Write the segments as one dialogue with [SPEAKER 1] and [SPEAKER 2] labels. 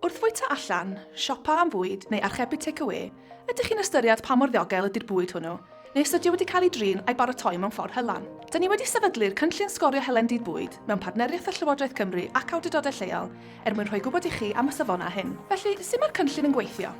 [SPEAKER 1] Wrth fwyta allan, siopa am fwyd neu archebu tecawê, ydych chi'n ystyried pa mor ddiogel ydy'r bwyd hwnnw, neu os ydy o wedi cael ei drin a'i baratoi mewn ffordd hylan? Da ni wedi sefydlu'r Cynllun Sgorio Helen Dydd Bwyd mewn partneriaeth â Llywodraeth Cymru ac awdurdodau lleol er mwyn rhoi gwybod i chi am y safonau hyn. Felly, sut mae'r cynllun yn gweithio?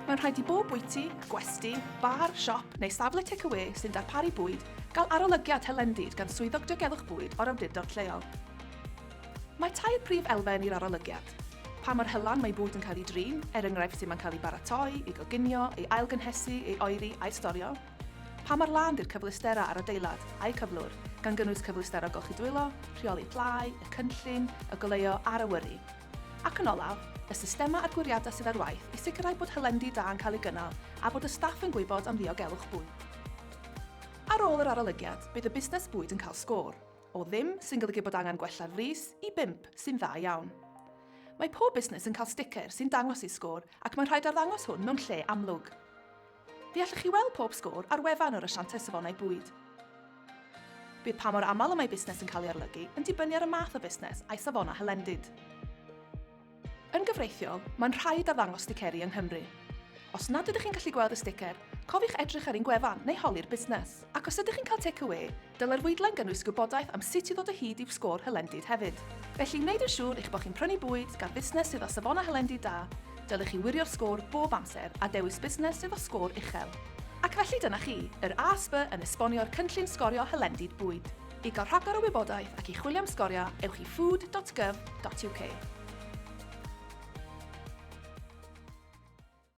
[SPEAKER 1] Mae'n rhaid i bob bwyty, gwesty, bar, siop neu safle tecawê sy'n darparu bwyd gael arolygiad hylendid gan Swyddog Diogelwch Bwyd o'r awdurdod lleol. Mae tair prif elfen i'r arolygiad, pa mor hylan mae bwyd yn cael ei drin, er enghraifft sut mae'n cael ei baratoi, ei goginio, ei ailgynhesu, ei oeri a'i storio, pa mor lân 'di'r cyfleusterau a'r adeilad a'u cyflwr, gan gynnwys cyfleusterau golchi dwylo, rheoli plâu, y cynllun, y goleuo a'r awyru. Ac yn olaf, y systemau adgwriadau sydd ar waith i sicrhau bod hylendid da yn cael eu gynnal a bod y staff yn gwybod am ddiogelwch bwyd. Ar ôl yr arolygiad, bydd y busnes bwyd yn cael sgôr, o ddim, sy'n golygu bod angen gwella'r frys, i bump, sy'n dda iawn. Mae pob busnes yn cael sticer sy'n dangos eu sgôr ac mae'n rhaid arddangos hwn mewn lle amlwg. Fe allwch chi weld pob sgôr ar wefan yr Asianteth Safonau Bwyd. Bydd pa mor aml y mae busnes yn cael ei arolygu yn dibynnu ar y math o fusnes a'i safon a hylendid. Yn gyfreithiol, mae'n rhaid arddangos sticeri yng Nghymru. Os nad ydych chi'n gallu gweld y sticer, cofiwch edrych ar ein gwefan neu holi'r busnes. Ac os ydych chi'n cael take away, Dylai'r fwydlen gynnwys gwybodaeth am sut i ddod o hyd i'w sgôr hylendid hefyd. Felly, wneud yn siŵr eich bod chi'n prynu bwyd gan fusnes sydd â safonau hylendid da, dylech chi wirio'r sgôr bob amser a dewis busnes sydd â sgôr uchel. Ac felly dyna chi, yr ASB yn esbonio'r cynllun sgorio hylendid bwyd. I gael rhagor o wybodaeth ac i chwilio am sgoriau, ewch i food dot gov dot uk.